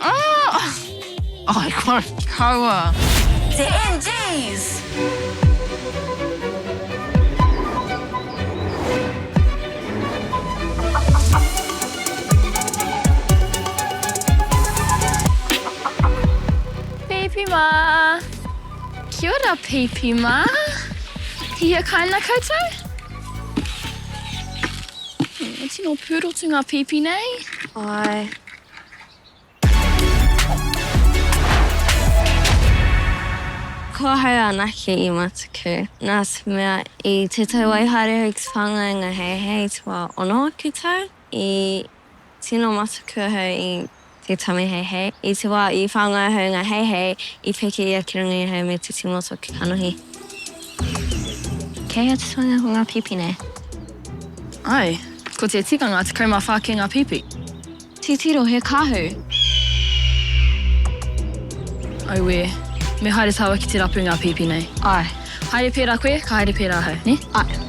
Oh! Ai kua kaua. Te NGs! Pipi mā! Kia ora Pipi mā! Tihia kāinga koutou? Tino pūrotu ngā pipi nei. Āe. Kua haere anake i matuku. Nā te mea, i te tau wai haere au ki te pānga i ngā heihei te wā ono ake tau, i tino matuku ahau i te tame heihei. I te wā i whāngai ahau i ngā heihei, i peke ia ki runga i ahau me te timoto ki kanohi. Kei a Titoinga ko nga pipi nei? Ae, ko te tikanga 14 kei nga pipi. Titiro he kahu! Auē, me haere taua ki te rapu nga pipi nei. Ae. Haere pera koe, ka haere pera ahau, ne? Ae.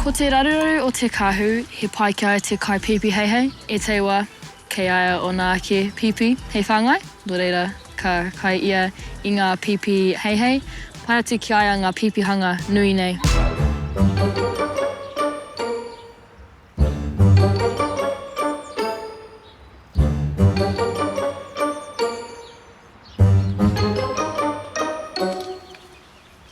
Ko te raruraru o te kahu he pai ki a te kai pipi heihei, e teiwa, kei a ia ona ake pipi hei whangai, no reira, Ka kai ia i ngā pīpī heihei, pai atu ki a ia ngā pīpīhanga nui nei.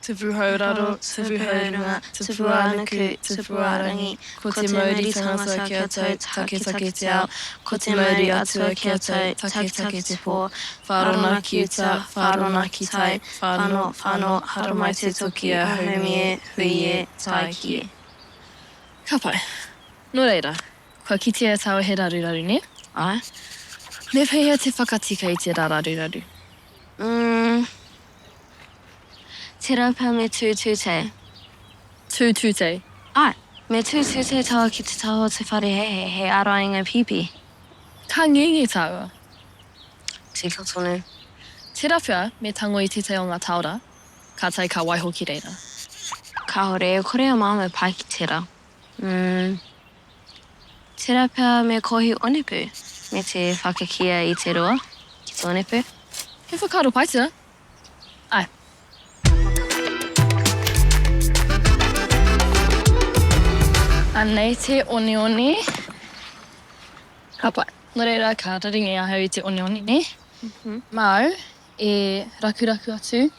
Tupu hou raro, tupu hou runga, tupu ā-nuku, tupu ā-rangi, ko te mauri tangata kia tau, taketake te ao, ko te mauri atua kia tau, taketake te pō, whārona ki uta, whārona ki tai, whānō, whānō, haramai te toki a Haumi e, hui e, tāiki e. Ka pai. Nō reira, kua kitea e tāua he raruraru, nē? Āe. Me pēhea te whakatika i tērā raruraru? Umm. Te rapa me tūtute. Tūtute. Ai, me tūtute taua ki te taha o te wharehehe hei ārainga pīpī. Ka ngenge taua. Tika tonu. Te rapa me tango i tētahi o ngā taora, kātahi ka waiho ki reira. Kāore e kore a māua pai ki tērā. Umm. Tera pea me Kohi Onepu me te whakakia i te roa ki te onepu. He whakaaro pai tera. Ae. Anei te oneone. Ka pai. No reira ka raringi ahau i te oneone ne. Mau e rakuraku atu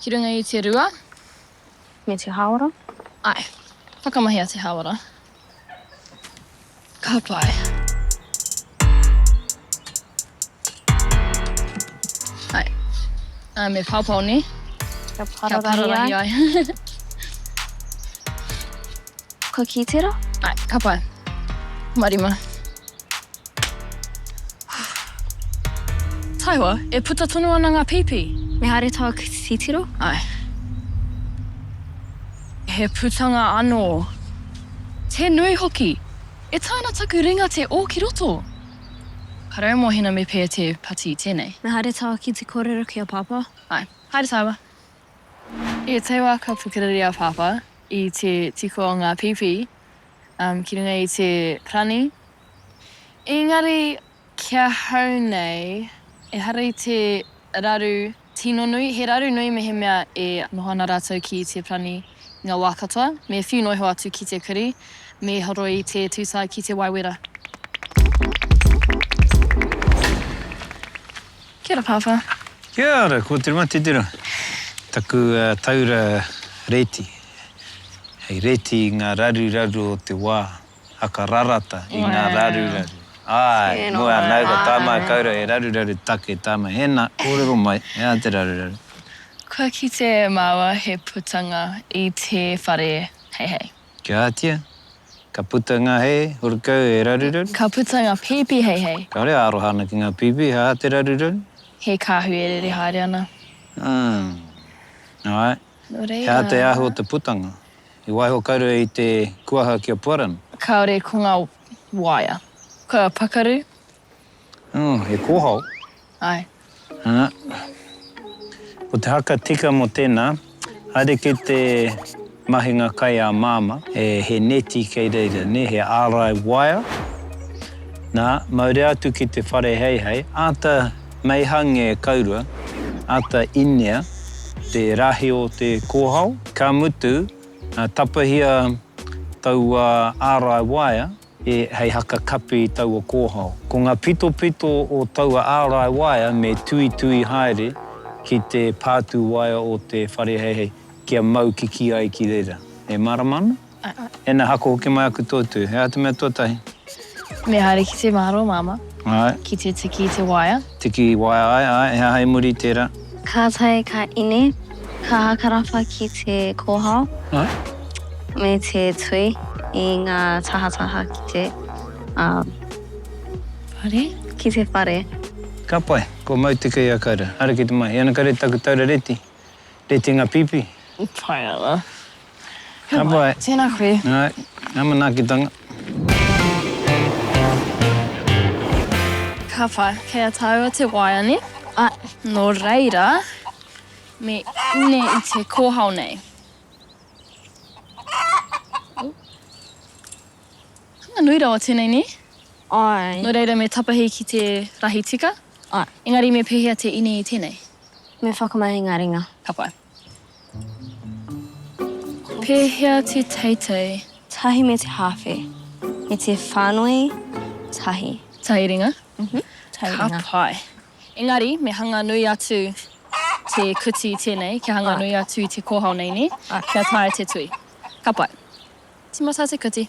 ki runga i te rua. Me te hāora? Āe. Whakamahi a te hāora. Ka pai. Āe. Āe, me paopao nē? Kia pararahi ai. Kia pararahi ai. Ka kī tera? Ai, ka pai. Marima. Taiwa, e puta tonu ana nga pipi. Me haere taua titiro? Ai. He putanga ano. Te nui hoki. E tae ana taku ringa te o ki roto. Ka raumohina me pea te pati tenei. Me haere taua ki te korero ki a papa? Ai. Haere taiwa. I te wā ka pukeriri a Pāpā i te tiko o ngā pīpī ki runga i te rani, ēngari ki ahau nei ehara i te raru tino nui, he raru nui mehemea e noho ana rātou ki te rani i ngā wā katoa, me whiu noa iho atu ki te kurī, me horo i te tūtae ki te wae wera. Kia ora Pāpā. Kia ora, ko te matitira. Taku taura reti. Hei reti i ngā raruraru o te wā, haka rarata i ngā raruraru. Āe, moe anau ka tae mai kaura he raruraru take tae mai. Hēnā, kōrero mai, he aha te raruraru? Kua kite māua he putanga i te whare heihei. Kia ātia, ka puta ngā hei hurukau e raruraru. Ka puta ngā pīpī hei hei. Kāore e aroha ana ki ngā pīpī hei hā te raruraru. He kāhui e rere haere ana. Āe. Nō reira. He hā te ahu o te putanga. I waiho kaurua i te kuaha ki a Puarana. Kāore ko ngā waea. Kua pakaru. Oh, he kōhao. Ae. Ana. Ko te haka tika mō tēnā, haere ki te mahinga kai a Māmā, he neti kei reira, nē, he ārai waea. Nā, maurea atu ki te whare heihei, āta meihange kaurua, āta inea te rahi o te kōhao. Ka mutu, tapahia taua ārai waea. hei haka kapi i taua kōhao. Ko ngā pitopito o taua ārai waea me tuitui haere ki te pātū waea o te whare heihei kia mau kikī ai ki reira. E mārama ana? Ēnei haka hoki mai aku toitui. He aha te mea tuatahi? Me haere ki te māro, Māmā. Āe. Ki te tiki i te waea. Tiki i waea, āe, āe. He aha i muri i tērā? Ka tae ka ine, ka hakarapa ki te kōhao me te tui i ngā tahataha ki te, ā, whare? Ki te whare. Ka pai, kua mau te kei a Kaira. Haere ki te mahi. Ana kare taku taura reti, retinga pipi. Pai ana. Ka muai. Tēnā koe. Hai, ngā manaakitanga. Ka whai, kei a tāua te waea ne? Ā, nō reira, me ine i te kōhao nei. Hanga nui rawa tēnei, nē? Āe. Nō reira me tapahi ki te rahi tika? Āe. Engari me pēhea te ine i tēnei? Me whakamahi ngā ringa. Ka pai. Pēhea te teitei? Tahi me te hāwhe. Me te whānui tahi. Tahiringa? Mhm, tahiringa. Ka pai. Engari, me hanga nui atu te kuti i tēnei, kia hanga nui atu i te kōhao nei, nē? Kia taea te tui. Ka pai. Tīmata te kuti.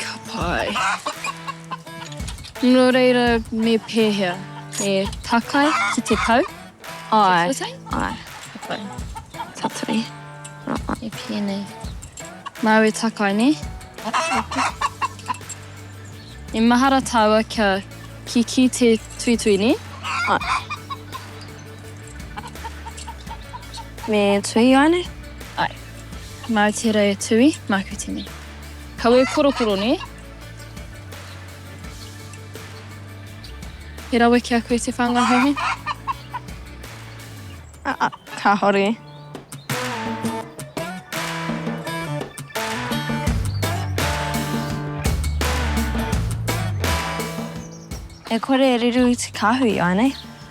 Ka pai. Nō reira me pēhea? E takai ki te pau? Āe, āe. Ka pai. Tatari. Rāa, e pēnei. Māu e takai, nē? E mahara tāua kia kikī te tuitui, nē? Āe. Me tui ua nei? Ae. Mau tera e Tui, maku tene. Kawe korokoro ne? He rawe ki a koe te whanga he he? Aa, kahore. E kore e riru te kahui ua nei?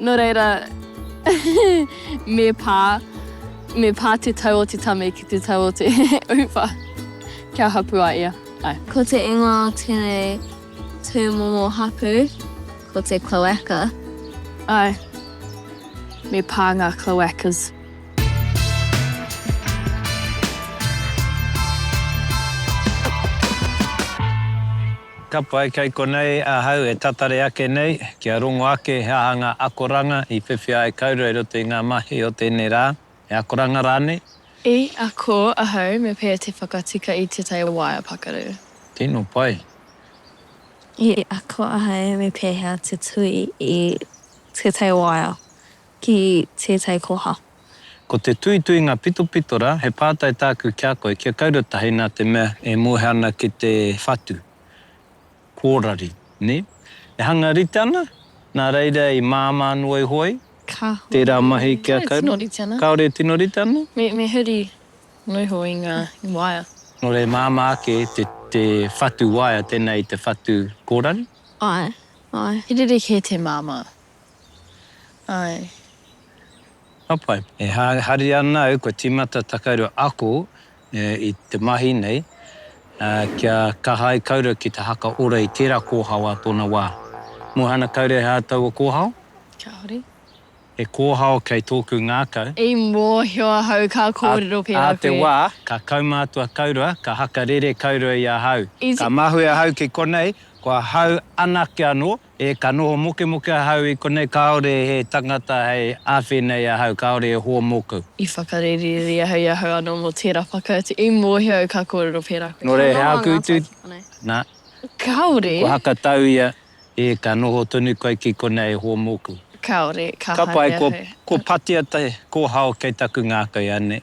Nō reira, me pā, me pā te tau o te tame ki te tau o te uwha, kia hapū a ia. Āe. Ko te ingoa o tēnei tūmomo hapū, ko te cloaca. Āe, me pā ngā cloacas. Ka pai kei konei ahau e tatari ake nei kia rongo ake he aha ngā akoranga i whiwhia ai kaurua i roto i ngā mahi o tēnei rā, he akoranga rānei? I ako ahau me pea te whakatika i te tai waea pakaru. Tino pai. I ako ahau me pehea te tui i te tai waea. ki tētai koha. Ko te tuituinga pitopitora he pātai tāku ki a koe kia kaura tahi nā te mea e moe ana ki te whatu, kōrari, nē? E hanga rite ana, nā reira i māmā noa iho ai tērā mahi kia kaura? Kāore e tino rite ana? Me huri noa iho i ngā waea. Nō reira e māmā ake te whatu waea tēnā i te whatu kōrari? Āe, āe, he rerekē te māmā. Ae. Ka pai. E haria ana au kua timata takaru ako i te mahi nei kia kaha ai kaurau ki te haka ora i tera kohao a tona wa. Muhana kaure he aha taua kohao? Kia hore. He kohao kei toku ngakau. I mohio ahau ka korero pera koe. A te wa ka kaumatua kaurau, ka haka rere kaurau i ahau. Ka mahue ahau ki konei, ko ahau anake ano E ka noho mokemoke ahau i konei kāore he tangata hei awhe nei ahau kāore e hoa mōku. I whakarererere ahau i ahau anō mō tērā whakautu i mōhio au ka kōrero pērā koe. Nō reira he āku utu nā. Kāore. Ko Hakatau ia, E ka noho tonu koe ki konei e hoa mōku. Kāore, ka haere ahau. Ka pai, ko Patea te kōhao kei taku ngākau, anei.